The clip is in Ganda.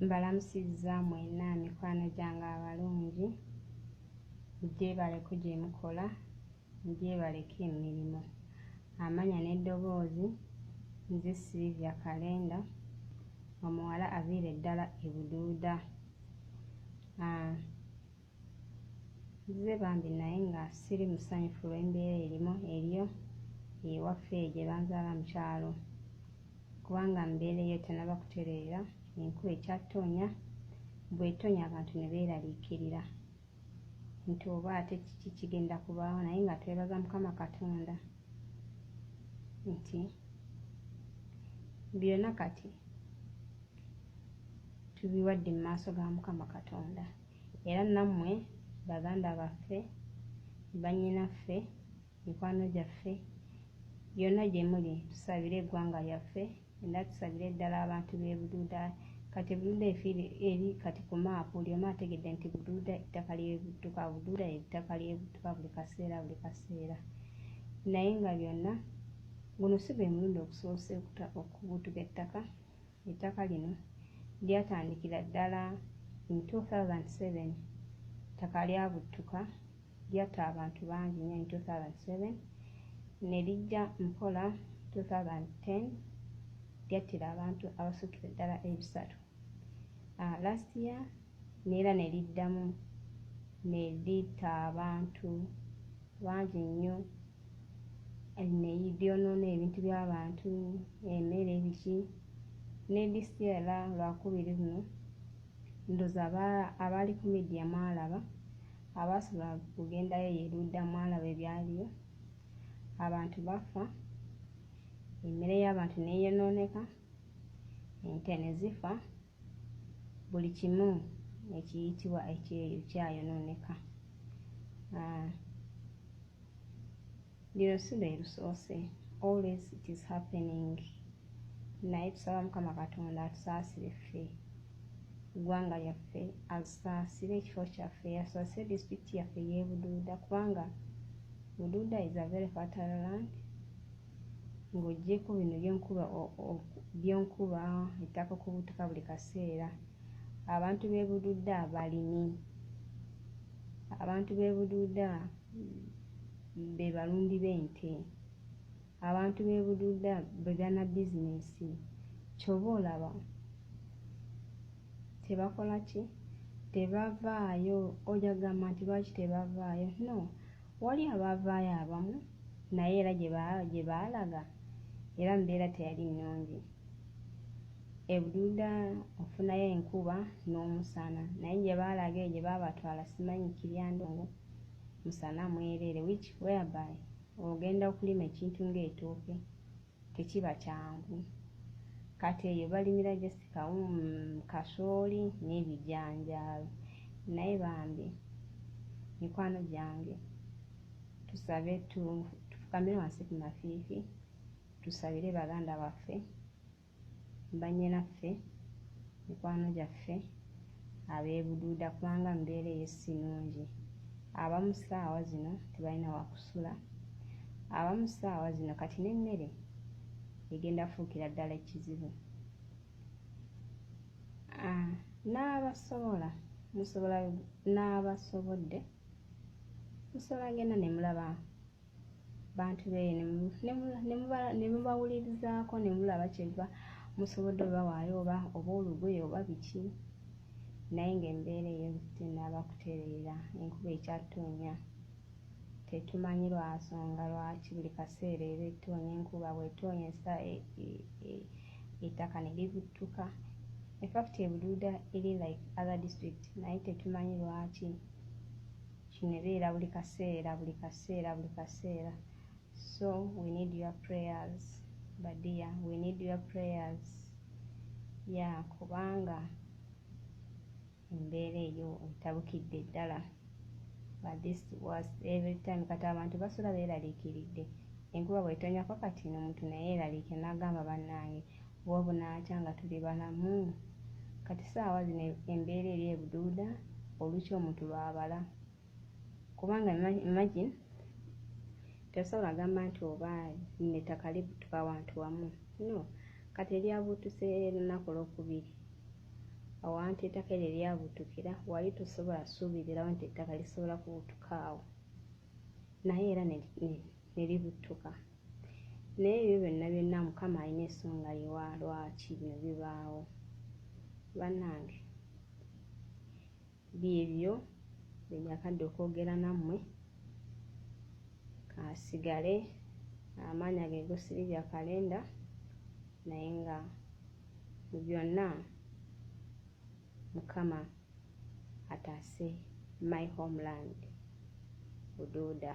Mbalamusizza mwenna mikwano gyange abalungi, mugyebaleko gye mukola, mugyebaleko emirimu. Amanya n'eddoboozi, nze Sylvia Kalenda, omuwala aviira eddala e Buduuda. Ah, Nzize bambi naye nga siri musanyufu lw'embeera erimu eriyo ewaffe eyo gye banzaala mu kyalo kubanga mu mbeera eyo tennaba kutereera enkuba ekyattonya bw'etonya abantu ne beeraliikirira nti oba ate kiki kigenda kubaawo naye nga twebaza Mukama Katonda nti byonna kati tubiwadde mu maaso ga Mukama Katonda. Era nammwe baganda baffe, bannyinaffe, mikwano gyaffe, yonna gye muli, tusabire eggwanga lyaffe, era tusabire ddala abantu b'e Bududa. Kati Bududa efiire eri kati ku maapu, buli omu ategedde nti Bududa ettaka ly'ebidduka, Bududa ettaka ly'ebidduka buli kaseera buli kaseera. Naye nga byonna, guno si gwe mulundi ogusoose okubutuka ettaka, Ettaka lino lyatandikira ddala in 2007 ttaka lyabuttuka lyatta abantu bangi nnyo in 2007 ne lijja mpola 2010 lyattira abantu abasukira ddala ebisatu uh, last year n'era ne liddamu ne litta abantu bangi nnyo, ne lyonoona ebintu by'abantu, emmere, biki ne disiti era lwakubiri luno ndoza abaali ku midiya mwalaba abaasobola kugendayo eyo erudda mwalaba ebyaliyo abantu bafa emmere y'abantu neeyonooneka ente ne zifa buli kimu ekiyitibwa ekyeyo kyayonooneka ah, lino si lwe lusoose always it is happening naye tusaba mukama katonda atusaasire ffe eggwanga lyaffe asaasire ekifo kyaffe asaasire disitulikiti yaffe yebuduuda kubanga buduuda is a very fertile land Ng'oggyeeko bino by'onkuba by'onkuba ettaka okubutuka buli kaseera, abantu b'e Bududa balimi. Abantu b'e Bududa be balumbi b'ente. Abantu b'e Bududa be bannabizineesi. Ky'oba olaba tebakola ki? Tebavaayo. Ojja kugamba nti lwaki tebavaayo? No, Wali abaavaayo abamu naye era gye baalaga era mbeera teyali nnungi. E Bududa ofunayo enkuba n'omusana naye gye baalaga eyo gye baabatwala simanyi Kiryandongo musana mwereere which whereby ogenda okulima ekintu ng'etooke. tekiba kyangu kati eyo balimira just kawum kasooli n'ebijanjaalo naye bambi mikwano gyange tusabe tufukamire wansi ku mafiifi tusabire baganda baffe banyinaffe mikwano gyaffe ab'e Bududa kubanga embeera eyo si nnungi. Abamu ssaawa zino tebalina wa kusula, abamu ssaawa zino kati n'emmere egenda fuukira ddala ekizibu. Ah, n'abasobola musobola n'abasobodde musobola genda ne mulaba bantu bee ne mubawulirizaako ne mulaba kyeva musobodde obawaayo oba oba olugoye oba biki naye ng'embeera eyo tenaaba kutereera enkuba ekyattonya tetumanyi lwasonga lwaki buli kaseera eba ettoonya enkuba bwetoonya esa e, e, e, ettaka ne libuttuka infact ebuduuda eri like other district naye tetumanyi lwaki kino ebeera buli kaseera buli kaseera buli kaseera so we need your prayers badia we need your prayers ya kubanga embeera eyo etabukidde ddala but this was every time kati abantu basula beeraliikiridde enkuba bwetonyako kati nomuntu naye eraliike nagamba bannange Wa bunaakya nga tuli balamu? Kati saawa zino embeera eri ebuduuda olukya omuntu lwabala kubanga imagine tesobola agamba nti oba lino ettaka libutuka wantu wamu no kati eryabutuse lunaku lwokubiri awantu ettaka eryo eryabutukira wali tusobola suubirirawo nti ettaka lisobola kubutukaawo naye era nelibutuka ne, ne naye ebyo byonna byonna mukama alina esonga yewa lwaki bino bibaawo banange byebyo byenjakadde okwogera nammwe kasigale amaanya ge gosiri bya kalenda naye nga mu byonna mukama ataase my homeland buduuda